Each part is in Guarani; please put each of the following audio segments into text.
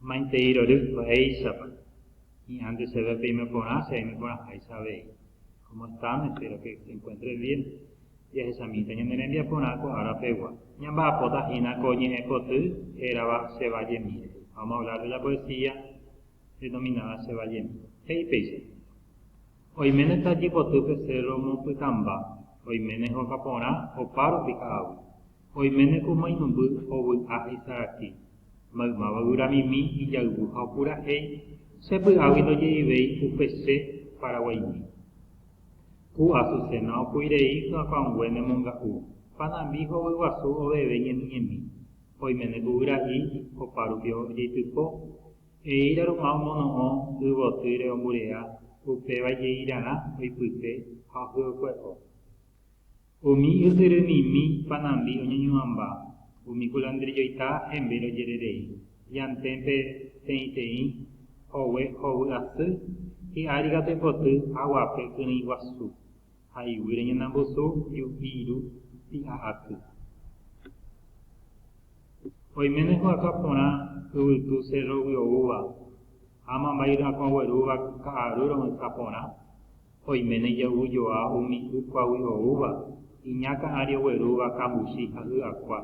Maitei rory, ko'éichapa, hi'ãnte chéve peime porã, che aime porãháicha avei. Cómo estáme, espero que se encuentre bien. Jahechamíta ñane rembiaporã ko ára pegua. Ñamba'apóta hína ko ñe'ẽ koty hérava Che va jemi rehe. Vamos a hablar de la poesía denominada Che va jemi. He'i péicha, Oiméne tajy potýpe cérro mombpytãmba, oiméne hóga porã opa rupi ka'aguy. Oiméne ko mainumby ovy'a isaraki, maymáva yvramimi ijayvu ha opurahéi, che py'águi ndojeivéi upe che paraguaimi. Ku Azucena opui rei hyakãungue ne monga'u, panambi hovy guasu oveve ñemiñemi, oiméne ku vyra'i opa rupi ojeitypo, eíra ruma omono'õ y votýre omburea upéva jeirarã oipype ha ohyokue'o. Umi ytyrymimi panambi oñeñuãmba, umi kulandrijoita hembe rojererei, llanténpe teĩteĩ, hogue hovy asy, hi'ári katu ipoty haguape kyrỹi guasu, ha iguýre ñanambusu ju'i ru pi'a aty. Oiméne hu'aka porã yvytu cerro guyovúva, ha amambairy'akuãguerúva ka'aru ro'ysã porã, oiméne ijayvujoa umi y kuágui oúva, iña ka'ãri oguerúva kambusi ha hyakuã,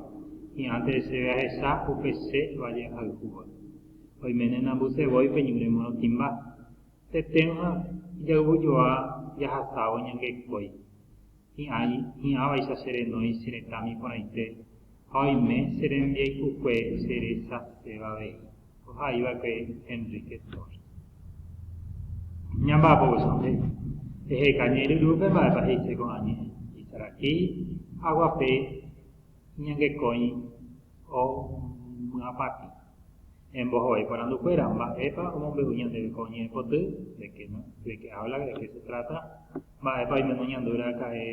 hi'ãnte heseve ahecha upe che valle ahayhúva. Oiméne nambysevói pe ñúre morotĩmba. Tetẽrõ ha ijayvujoa jahasávo ñangerekói. hi'ãi, hi'ãvaicha che renói che retãmi porãite, ha oime che rembiaikukue che rechaséva avei, ohai va'ekue Enrique Torres. Ñamba'apo voi San Pedro. Eheka ñe'ẽ ryrúpe mba'épa he'ise ko'ã ñe'ẽ, Isarakí, aguape iñangekói. omyapatĩ. Embohovái porandukuéra, Mba'épa omombe'u ñandéve ko ñe'ẽpoty? De qué no, de qué habla, de qué se trata? Mba'épa oimeno ñandu raka'e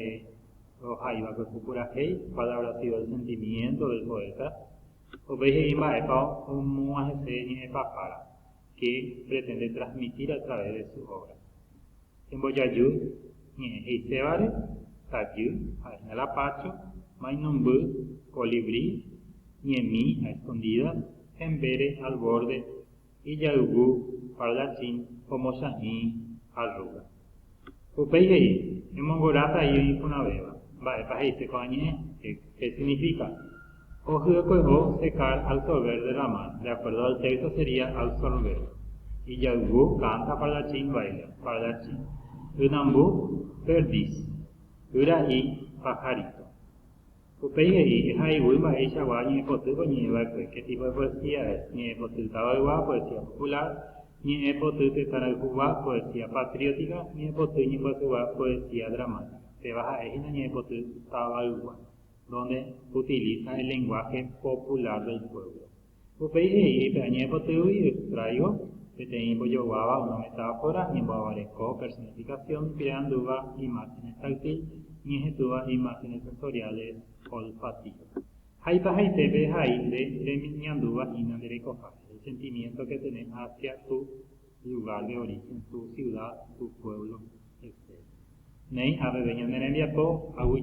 rohaiva ko epu purahéi? Cuál habrá sido el sentimiento del poeta? Upéi he'i mba'épa omog̃uahẽse ñe'ẽpapára. que pretende transmitir a través de su obra. Embojaju ñe'ẽ he'isévare, tajy, ha'ehína la pácho, mainumby, colibrí, ñemi, a escondidas, hembere, al borde, ijayvu, parlachín, omochahĩ, arruga. Upéi he'i, Emongoráta ío iporãvéva. Mba'épa he'ise ko'ã ñe'ẽ? Hék signifíka, Ohyekuevo secar, absorber, derramar. De acuerdo al texto sería absorber. Ijayvu, canta, pardachín, baila. Pardachín. Ynambu, perdiz. Yra'i, pajarito. Upéi he'i, Ehayhúi mba'eichagua ñe'ẽpotýpe oñe'ẽva'ekue, qué tipo de poesía es, ñe'ẽpoty tavaygua, poesía popular, ñe'ẽpoty tetãrayhugua, poesía patriótica, ñe'ẽpoty ñembyasygua, poesía dramática. Péva ha'e hína ñe'ẽpoty tavaygua, donde utiliza el lenguaje popular del pueblo. Upéi he'i pe añe'ẽpotýgui extraigo peteĩ mbojoguáva una metáfora ñemboavareko personificación creandúva imágenes táctil ñehetúva imágenes sensoriales olfativas. Ha ipahaitépe hai nde reñandúva hína nde rekohápe, el sentimiento que tenés hacia tu lugar de origen, tu ciudad, tu pueblo, etc. Néi aveve ñane rembiapo haguy.